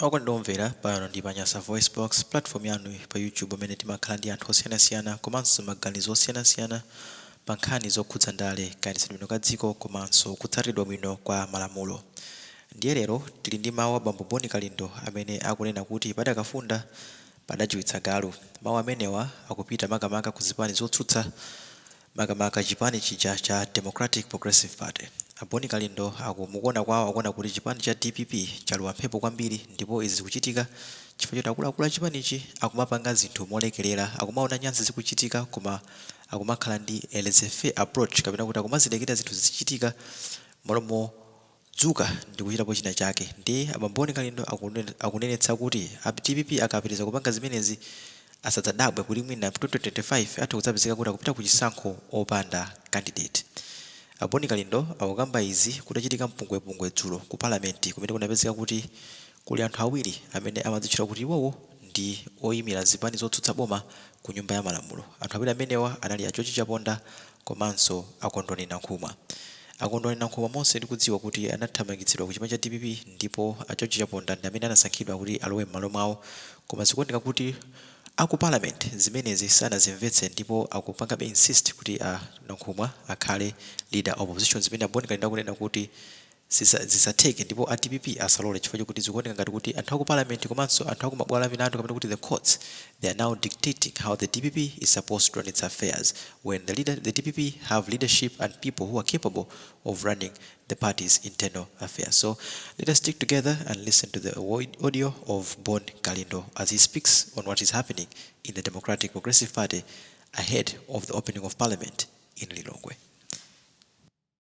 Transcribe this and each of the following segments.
Okondedwa omvera, pano ndi pa Nyasa VoiceBox, platform yanu pa YouTube pamene timakhala ndi anthu osiyanasiyana komanso maganizo osiyanasiyana pa nkhani zokhudza ndale, kayendetsedwe bwino ka dziko komanso kutsatidwa bwino kwa malamulo. Ndiye lero tili ndi mawu a Bambo Bon Kalindo amene akunena kuti padakafunda, padajiwitsa galu. Mawu amenewa akupita makamaka ku zipani zotsutsa. makamaka chipani chija cha Democratic Progressive Party. A Boni Kalindo mukuona kwawo akuona kuti chipani cha dpp chalowa mphepo kwambiri ndipo izi zikuchitika chifukwa choti akuluakulu a chipanichi akumapanga zinthu molekerera, akumaona nyansi zikuchitika koma akumakhala ndi a laissez-faire approach kapena kuti akumazilekerera zinthu zizichitika m'malo mo Dzuka ndikuchitapo china chake ndiye a Bambo Boni Kalindo akunenetsa kuti a dpp akapitiliza kupanga zimenezi asadzadabwe kuti mwina 2025 atha kudzapezeka kuti akupita kuchisankho opanda candidate. A boni kalindo akukamba izi kutachitika mpungwepungwe dzulo ku parliament kumene kunapezeka kuti kuli anthu awiri amene amadzitchula kuti iwowo ndi oyimila zipani zotsutsa boma ku nyumba ya malamulo. Anthu awiri amenewa anali a george chaponda komanso a Kondwani Nankhumwa. A Kondwani Nankhumwa monse tikudziwa kuti anathamangitsidwa ku chipani cha dpp ndipo a George Chaponda ndi amene anasankhidwa kuti alowe m'malo mwawo koma zikuoneka kuti a ku Parliament zimenezi sanazimvetse ndipo akupangabe insist kuti a Nankhumwa akhale Leader of Opposition zimene a Bon Kalindo akunena kuti Sizatheke ndipo a dpp asalole chifukwa chokuti zikuoneka ngati kuti anthu aku parliament komanso anthu aku mabwalo amilandu kapena kuti the courts they are now dictating how the dpp is supposed to run its affairs when the leader the dpp have leadership and people who are capable of running the party's internal affairs so let us stick together and listen to the audio of Bon Kalindo as he speaks on what is happening in the Democratic Progressive Party ahead of the opening of parliament in Lilongwe.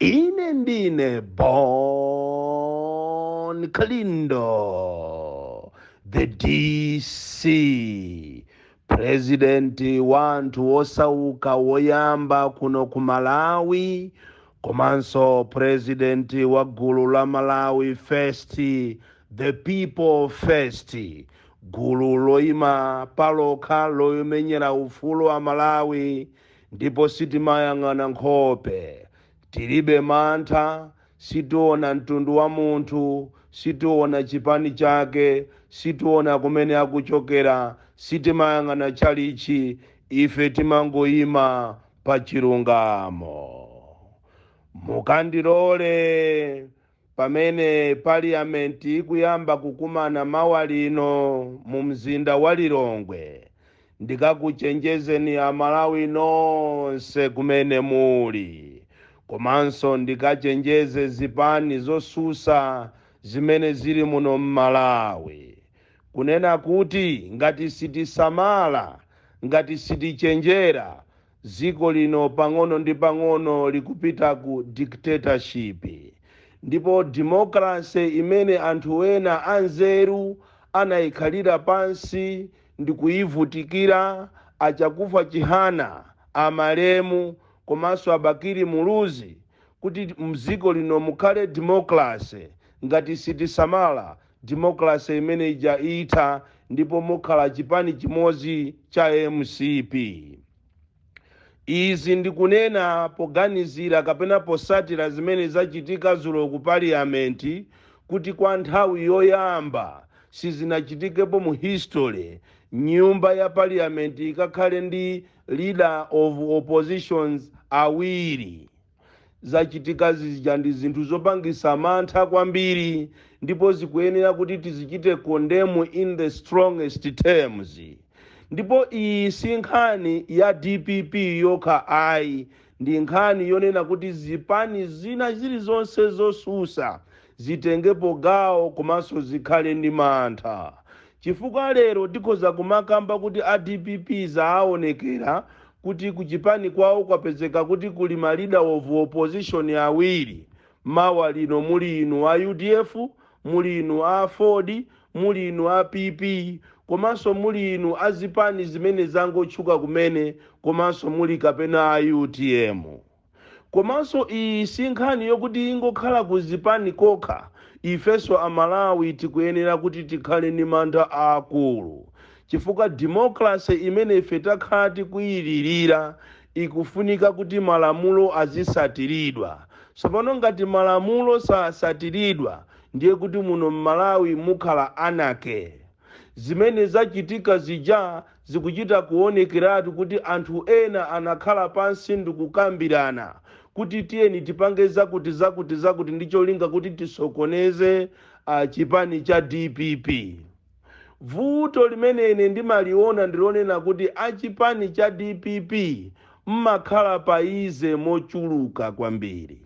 Ine ndine Bon Kalindo, the DC, purezidenti wa anthu wosauka woyamba kuno ku Malawi, komanso purezidenti wa gulu la Malawi First, the people first, gulu loyima palokha lomenyera ufulu wa a Malawi. Ndipo sitimayang'ana nkhope. Tilibe mantha, sitiona mtundu wa munthu, sitiona chipani chake, sitiona kumene akuchokera, sitimayang'ana tchalitchi, ife timangoima pa chilungamo. Mukandilole. Pamene Paliyamenti ikuyamba kukumana mawa lino mu mzinda wa Lilongwe, ndikakuchenjezeni Amalawi nonse kumene muli komanso ndikachenjeze zipani zosusa zimene zili muno m'Malawi kunena kuti ngati sitisamala, ngati sitichenjera, Dziko lino pang'ono ndi pang'ono likupita ku dictatorship ndipo democrancy imene anthu ena anzeru anaikhalira pansi ndikuivutikira, a Chakufwa Chihana, amalemu komanso a Bakili Muluzi kuti mdziko lino mukhale democracy ngati sitisamala Democracy imene ija itha ndipo mukhala chipani chimodzi cha mcp. Izi ndikunena poganizira kapena posatira zimene zachitika zulo ku parliament kuti kwa nthawi yoyamba sizinachitikepo mu history nyumba ya parliament ikakhale ndi leader of oppositions awiri. Zachitika zija ndi zinthu zopangisa mantha kwambiri ndipo zikuyenera kuti tizichite condemn in the strongest terms. Ndipo iyi si nkhani ya dpp yokha ayi, ndi nkhani yonena kuti zipani zina zilizonse zosusa zitengepo gawo komanso zikhale ndi mantha chifukwa lero tikhoza kumakamba kuti a dpp zaawonekera kuti kuchipani kwawo kwapezeka kuti kuli ma leader of opposition awiri mawa lino muli inu a udf muli inu a aford muli inu a pp komanso muli inu a zipani zimene zangotchuka kumene komanso muli kapena a utm Komanso iyi si nkhani yokuti ingokhala ku zipani kokha, ifenso Amalawi tikuyenera kuti tikhale ndi mantha aakulu chifukwa democracy imene ife takhala tikuyilirira ikufunika kuti malamulo azisatiridwa. Tsopano ngati malamulo sasatiridwa ndiye kuti muno m'Malawi mukhala anarchy. Zimene zachitika zija zikuchita kuonekeratu kuti anthu ena anakhala pansi ndi kukambirana kuti tiyeni tipange zakutizakutizakuti ndi cholinga kuti tisokoneze a chipani cha dpp. Vuto limene ine ndimaliona ndi lonena kuti a chipani cha dpp mmakhala paize mochuluka kwambiri.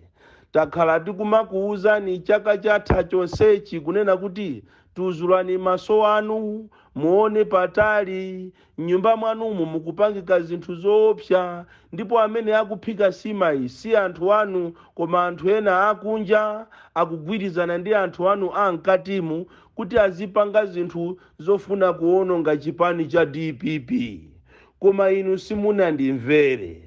Takhala tikumakuuzani chaka chatha chonsechi kunena kuti Tuzulani maso anu, muone patali. M'nyumba mwanumu mukupangika zinthu zoopsa, ndipo amene akuphika simayi si anthu anu, koma anthu ena akunja. Akugwirizana ndi anthu anu a m'katimu kuti azipanga zinthu zofuna kuwononga chipani cha dpp. Koma inu simunandimvere.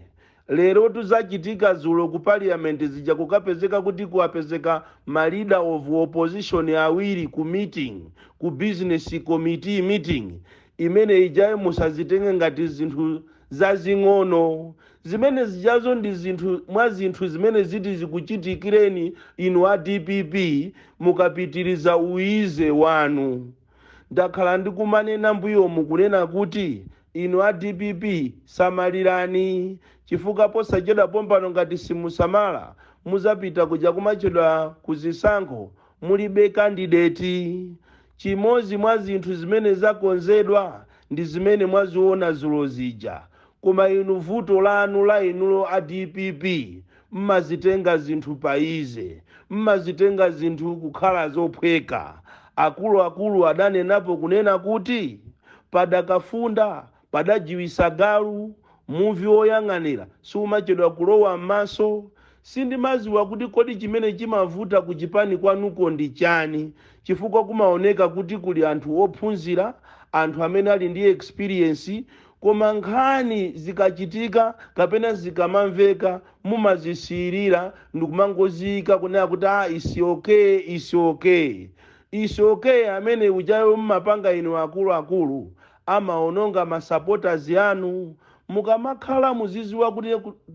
Lerotu zachitika dzulo ku parliament zija kukapezeka kuti kwapezeka ma leader of opposition awiri ku meeting, ku business committee meeting imene ijayo musazitenge ngati zinthu zazing'ono. Zimene zijazo ndi zinthu mwa zinthu zimene ziti zikuchitikireni inu a dpp mukapitiriza u Easy wanu. Ndakhala ndikumanena mbuyomu kunena kuti inu a dpp samalirani chifukwa posachedwa pompano ngati simusamala muzapita kuja kumachedwa ku zisankho mulibe kandideti. Chimodzi mwa zinthu zimene zakonzedwa ndi zimene mwaziona dzulo zija koma inu vuto lanu la inuyo a dpp Mmazitenga zinthu pa easy. Mmazitenga zinthu kukhala zophweka. Akuluakulu adanenapo kunena kuti, Padakafunda padajiwisa galu. Muvi woyang'anira siumachedwa kulowa mmaso. Sindimaziwa kuti kodi chimene chimavuta ku chipani kwanuko ndi chani chifukwa kumaoneka kuti kuli anthu ophunzira, anthu amene ali ndi experience, Koma nkhani zikachitika kapena zikamamveka mumazisiyirira ndikumangoziika kunena kuti aah its okay its okay. Its okay amene ujayo mmapanga inu akulu akulu amaononga ma supporters anu. Mukamakhala muziziwa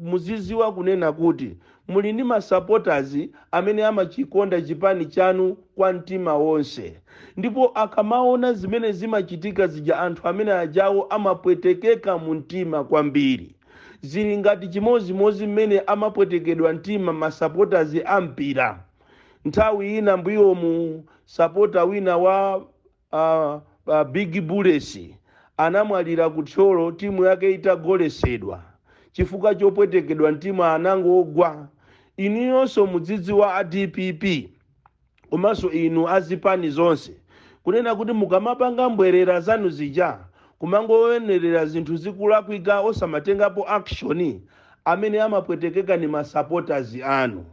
muziziwa kunena kuti Muli ndi ma supporters amene amachikonda chipani chanu kwa mtima wonse ndipo akamaona zimene zimachitika zija anthu amene ajawo amapwetekeka mu mtima kwambiri. Zili ngati chimodzimodzi mmene amapwetekedwa mtima ma supporters a mpira. Nthawi ina mbuyomu supporter wina wa. A big bullets anamwalira ku thyolo timu yake itagolesedwa chifukwa chopwetekedwa mtima anangogwa inuyonso mudzidziwa a dpp komanso inu azipani zonse kunena kuti mukamapanga mbwerera zanu zija kumangowonerera zinthu zikulakwika osamatengapo action amene amapwetekeka ni ma supporters anu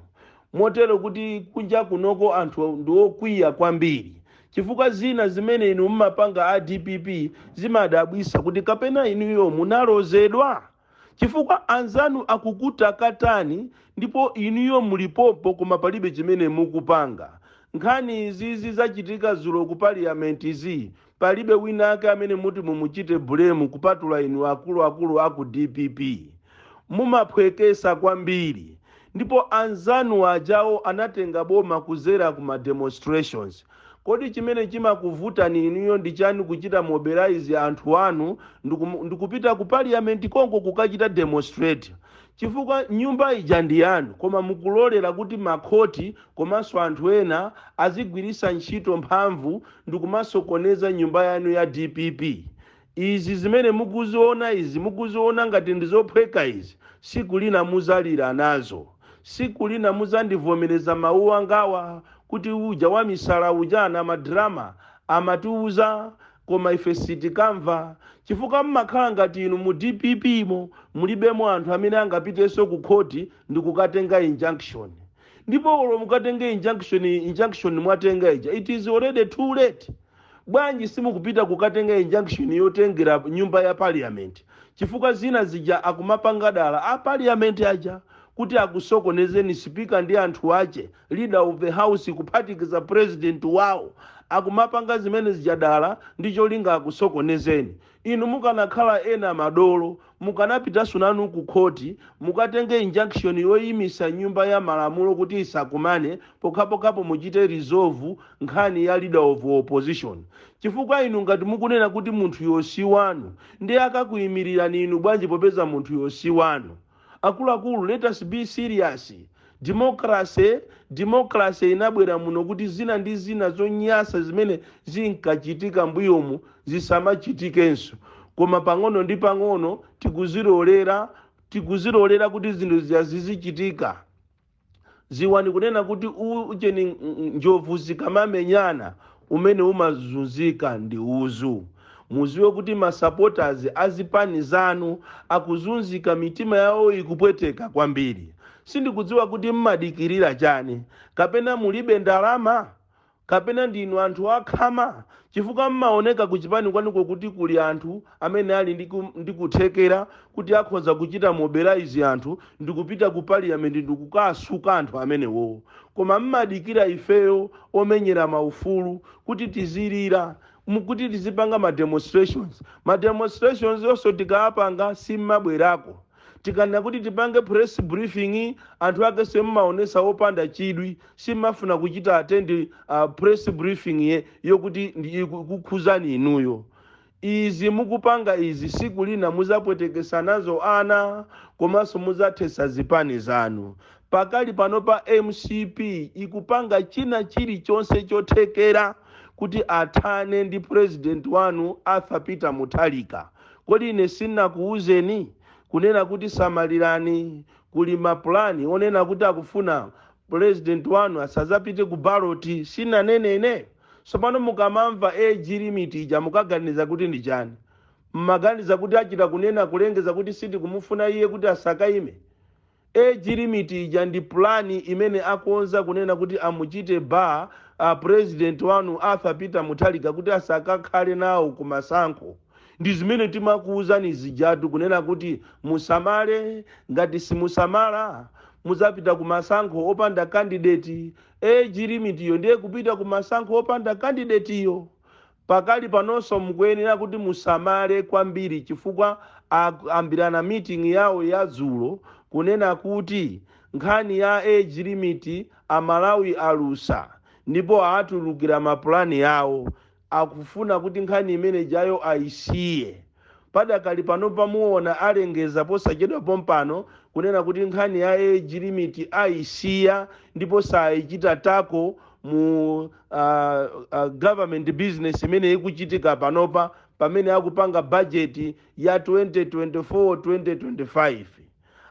motero kuti kunja kunoko anthu ndiokwiya kwambiri Chifukwa zina zimene inu mmapanga a dpp zimadabwisa kuti kapena inuyo munalozedwa? Chifukwa anzanu akukutakatani ndipo inuyo muli pompo koma palibe chimene mukupanga. Nkhani izizi zachitika zulo ku parliamentzi palibe winake amene muti mumuchite blame kupatula inu akuluakulu aku dpp. mumaphwekesa kwambiri ndipo anzanu ajawo anatenga boma kuzera ku ma demonstrations kodi chimene chimakuvutani inuyo ndi chani kuchita mobilize anthu anu ndiku, ndikupita ku parliament konko kukachita demonstrate chifukwa nyumba ija ndi yanu koma mukulolera kuti makhoti komanso anthu ena azigwirisa ntchito mphamvu ndikumasokoneza nyumba yanu ya dpp Izi zimene mukuziona izi mukuziona ngati ndizophweka izi siku lina muzalira nazo siku lina muzandivomereza mawu angawa kuti uja wamisala uja na ma drama amatiuza koma ife sitikamva chifukwa mmakhala ngati inu mu dpp mo mulibemo anthu amene angapitenso ku khoti ndikukatenga injunction ndipo olo mukatenge injunction injunction mwatenga ija it is already too late Bwanji simukupita kukatenga injunction yotengera nyumba ya parliament chifukwa zina zija akumapanga dala a parliament aja kuti akusokonezeni speaker ndi anthu ache leader of the house kuphatikiza president wao akumapanga zimene zija dala ndi cholinga akusokonezeni Inu mukanakhala ena madolo mukanapitanso nanu ku khoti mukatenge injunction yoimisa nyumba ya malamulo kuti isakumane pokhapokhapo muchite resolve nkhani ya leader of opposition chifukwa inu ngati mukunena kuti munthuyo si wanu nde akakuimilirani inu bwanji popeza munthuyo si wanu? Akuluakulu let us be serious. Democracy democracy inabwera muno kuti zina ndi zina zonyasa zimene zinkachitika mbuyomu zisamachitikenso. Koma pang'ono ndi pang'ono tikuzilolera tikuzilolera kuti zinthu zija zizichitika. ziwani kunena kuti ujeni ng- ng- njovu zikamamenyana umene umazunzika ndi uzu muziwe kuti masapota azipani zanu akuzunzika mitima yawo ikupweteka kwambiri sindikudziwa kuti mmadikirira chani kapena mulibe ndalama Kapena ndinu anthu a khama? Chifukwa mmaoneka ku chipani kwanuko kuti kuli anthu amene ali ndi ndi kuthekera kuti akhoza kuchita mobilize anthu ndikupita ku parliament ndikukasuka anthu amenewowo. Koma mmadikira ifeyo omenyera ma ufulu kuti tizilira, kuti tizipanga ma demonstrations. Ma demonstrations onso tikaapanga simmabwerako. tikanena kuti tipange press briefing anthu ake mumaonesa opanda chidwi simmafuna kuchita attend uh, press briefing ye yokuti ndi- iku- kukhuzani inuyo izi mukupanga izi siku lina muzapwetekesa nazo ana komanso muzathesa zipani zanu pakali pano pa mcp ikupanga china chilichonse chothekera kuti athane ndi president wanu arthur peter mutharika Kodi ine sinakuuzeni, kunena kuti samalirani, kuli ma plan onena kuti akufuna President wanu asazapite ku ballot? Sinanene ine? Sopano mukamamva age limit ija mumaganiza kuti ndi chani? Mmaganiza kuti achita kunena kulengeza kuti sitikumufuna iye kuti asakaime? Age limit ija ndi plan imene akonza kunena kuti amuchite bar president wanu Arthur Peter Mutharika kuti asakakhale nawo ku masankho. Ndi zimene timakuuzani zijatu kunena kuti musamale ngati simusamala muzapita ku masankho opanda candidate. Age limit yo ndiye kupita ku masankho opanda candidate yo. Pakali panonso mukuyenera kuti musamale kwambiri chifukwa akambirana meeting yawo ya dzulo kunena kuti nkhani ya age limit a Malawi alusa ndipo aatulukira ma plan awo akufuna kuti nkhani imene ijayo ayisiye. Padakali panopa muona alengeza posachedwa pompano kunena kuti nkhani ya age limit ayisiya ndipo sayichita table mu government business imene ikuchitika panopa pamene akupanga budget ya 2024 2025.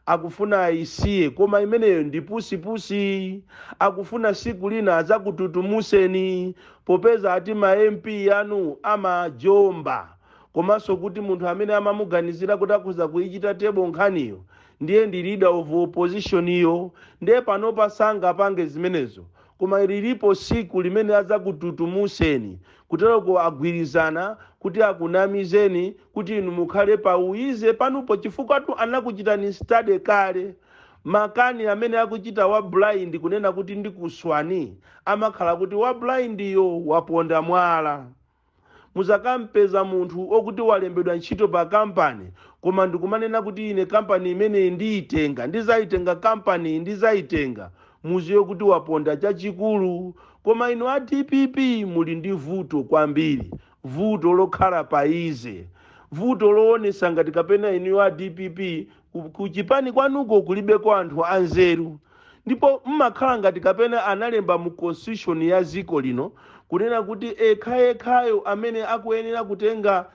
akufuna ayisiye koma imeneyo ndi pusi pusi akufuna siku lina azakututumuseni popeza ati ma mp anu amajomba komanso kuti munthu amene amamuganizira kuti akhoza kuyichita table nkhaniyo ndiye ndi leader of opposition yo ndiye panopa sangapange zimenezo koma lilipo siku limene azakututumuseni Kutereko agwirizana kuti akunamizeni kuti inu mukhale pa easy panupo chifukwatu anakuchitani study kale. Makani amene akuchita wa blind kunena kuti ndikuswani amakhala kuti wa blind yo waponda mwala. Muzakampeza munthu okuti walembedwa ntchito pa company koma ndikumanena kuti ine company imeneyi ndiyitenga, ndizaitenga company yi ndizaitenga. muziwe kuti waponda chachikulu koma inu a dpp muli ndi vuto kwambiri vuto lokhala pa easy vuto loonesa ngati kapena inuyo a dpp ku chipani kwanuko kulibeko anthu anzeru ndipo mmakhala ngati kapena analemba mu constitution ya ziko lino kunena kuti ekhayekhayo amene akuyenera kutenga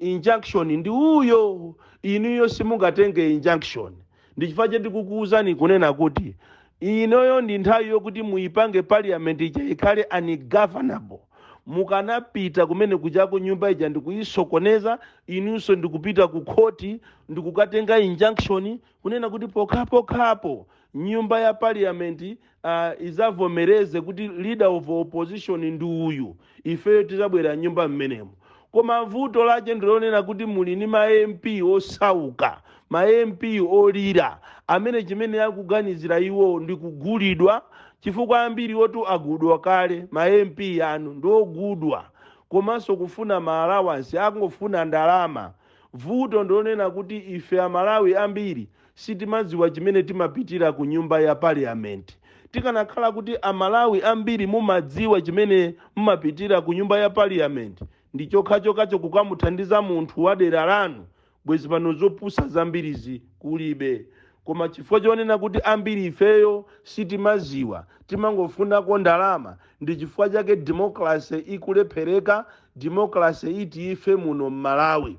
injunction ndi uyo inuyo simungatenge injunction Ndi chifukwa chake ndikukuuzani kunena kuti inoyo ndi nthawi yokuti muipange parliament ija ikhale ungovernable. Mukanapita kumene kujako nyumba ija ndikuisokoneza, inunso ndikupita ku khoti ndikukatenga injunction kunena kuti pokhapokhapo nyumba ya parliament uh, izavomereze kuti leader of opposition ndi uyu ifeyo tizabwera mnyumba mmenemo koma vuto lache ndilonena kuti muli ni ma mp osauka ma mp olira amene chimene akuganizira iwo ndi kugulidwa chifukwa ambiriwotu agudwa kale ma mp anu ndi ogudwa komanso kufuna ma allowance akungofuna ndalama vuto ndilonena kuti ife amalawi ambiri Sitimadziwa chimene timapitira ku nyumba ya parliament. Tikanakhala kuti a Malawi ambiri mumadziwa chimene mmapitira ku nyumba ya parliament ndi chokhachokacho kukamuthandiza munthu wa dera lanu bwezi pano zopusa zambirizi kulibe. Koma chifukwa chonena kuti ambiri ifeyo sitimaziwa timangofunako ndalama ndi chifukwa chake democracy ikulephereka. Democracy itiyo ife muno mMalawi.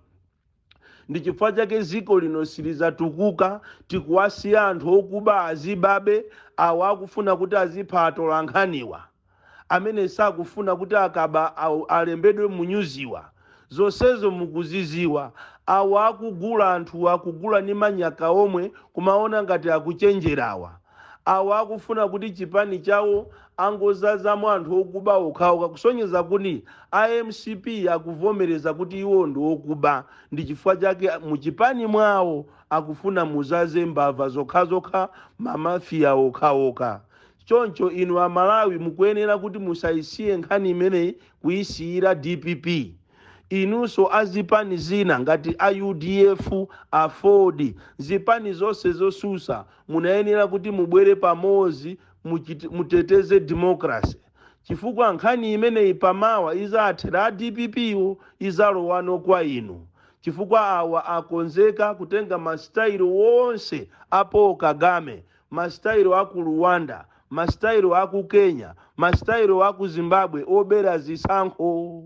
ndi chifukwa chake ziko lino silizatukuka tikuwasiya anthu okuba azibabe awo akufuna kuti azipha atolankhaniwa amene sakufuna kuti akaba alembedwe munyuziwa zonsezo mukuziziwa awo akugula anthu akugula ni manyaka omwe kumaona ngati akuchenjerawa Awo akufuna kuti chipani chawo angozazamo anthu okuba okhaoka kusonyeza kuti a mcp akuvomereza kuti iwo ndi okuba ndi chifukwa chake mu chipani mwawo akufuna muzaze mbava zokhazokha ma mafia okhaoka choncho inu a Malawi mukuyenera kuti musaisiye nkhani imeneyi kuisiyira dpp Inunso a zipani zina ngati a udf, aford, zipani zonse zosusa munayenera kuti mubwere pamodzi muteteze democracy chifukwa nkhani imeneyi pa mawa izathera a dpp yo izalowano kwa inu chifukwa awa akonzeka kutenga masitayilo onse a Paul kagame masitayilo a ku Rwanda, masitayilo a ku Kenya, masitayilo a ku Zimbabwe obera zisankho.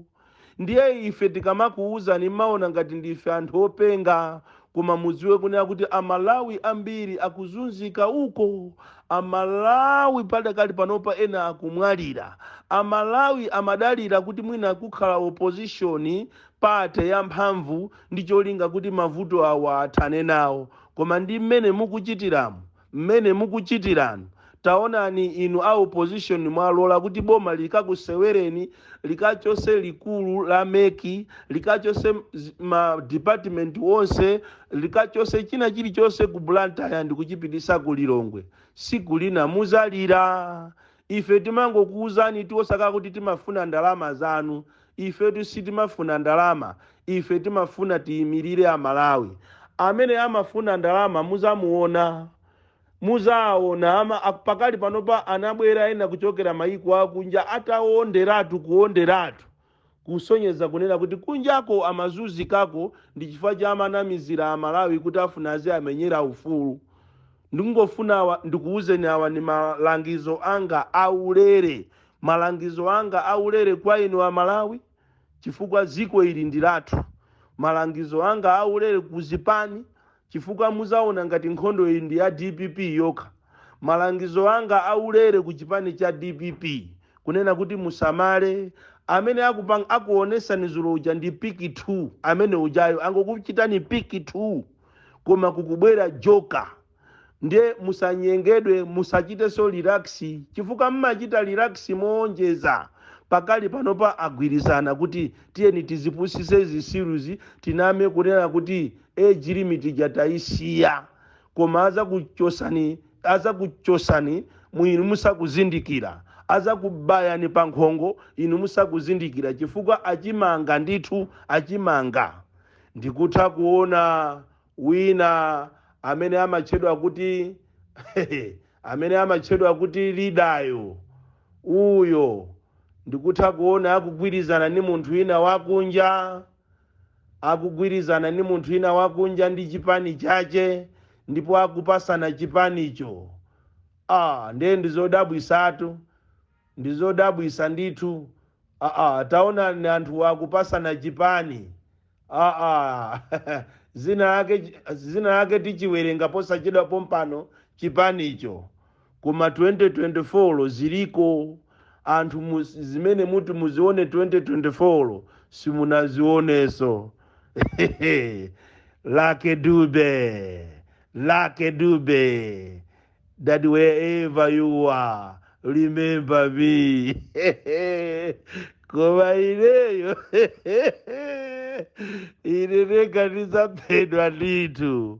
Ndiye ife tikamakuwuzani mmaona ngati ndife anthu openga, koma mudziwe kunena kuti Amalawi ambiri akuzunzika uko. Amalawi padakali panopa ena akumwalira. Amalawi amadalira kuti mwina kukhala opposition, party yamphamvu ndi cholinga kuti mavuto awa athane nawo. Koma ndi mmene mukuchitiramu, mmene mukuchitiramu, taonani inu a opposition mwalola kuti boma likakusewereni, likachotse likulu la mec, likachotse ma department onse, likachotse china chilichonse ku Blantyre ndikuchipititsa ku Lilongwe. Siku lina muzalira. Ife timangokuuzani tu osakhala kuti timafuna ndalama zanu. Ifetu sitimafuna ndalama. Ife timafuna tiyimirire a Malawi. Amene amafuna ndalama muzamuona. Muzaawona. Ama, a, pakali panopa anabwera ena kuchokera mayiko akunja ataonderatu, kuonderatu. kusonyeza kunena kuti kunjako amazunzikako ndi chifukwa chake amanamizira a Malawi kuti afuna aziamenyera ufulu. Ndingofuna awa ndikuuzeni awa ndi malangizo anga a ulere, malangizo anga a ulere kwa inu a Malawi chifukwa dziko ili ndi lathu, malangizo anga a ulere ku zipani chifukwa muzaona ngati nkhondoyi ndi ya dpp yokha malangizo anga aulere ku chipani cha dpp kunena kuti musamale amene akupang, akuonesani zulo uja ndi piki 2 amene ujayo angokuchitani piki 2 koma kukubwera joka ndiye musanyengedwe musachiteso relax chifukwa mmachita relax moonjeza pakali panopa agwirizana kuti tiyeni tizipusise zitsiruzi tiname kunena kuti age limit ija tayisiya koma azakuchosani azakuchosani inu musakuzindikira azakubayani pa nkhongo inu musakuzindikira chifukwa achimanga ndithu achimanga ndikutha kuona wina amene amatchedwa kuti amene amatchedwa kuti lidayo uyo ndikutha kuona akugwirizana ndi munthu wina wakunja akugwirizana ndi munthu wina wakunja ndi chipani chache ndipo akupasana chipanicho ah, ndiye ndizodabwisatu ndizodabwisa ndithu ah, ah, taonani anthu akupasana chipani ah, ah. zina lake zina lake tichiwerenga posachedwa pompano chipanicho koma 2024 ziliko anthu mu, zimene muti muzione 2024 simunazioneso lucky dube lucky dube that wherever you are remember me koma ineyo ine ndekha ndizaphedwa ndithu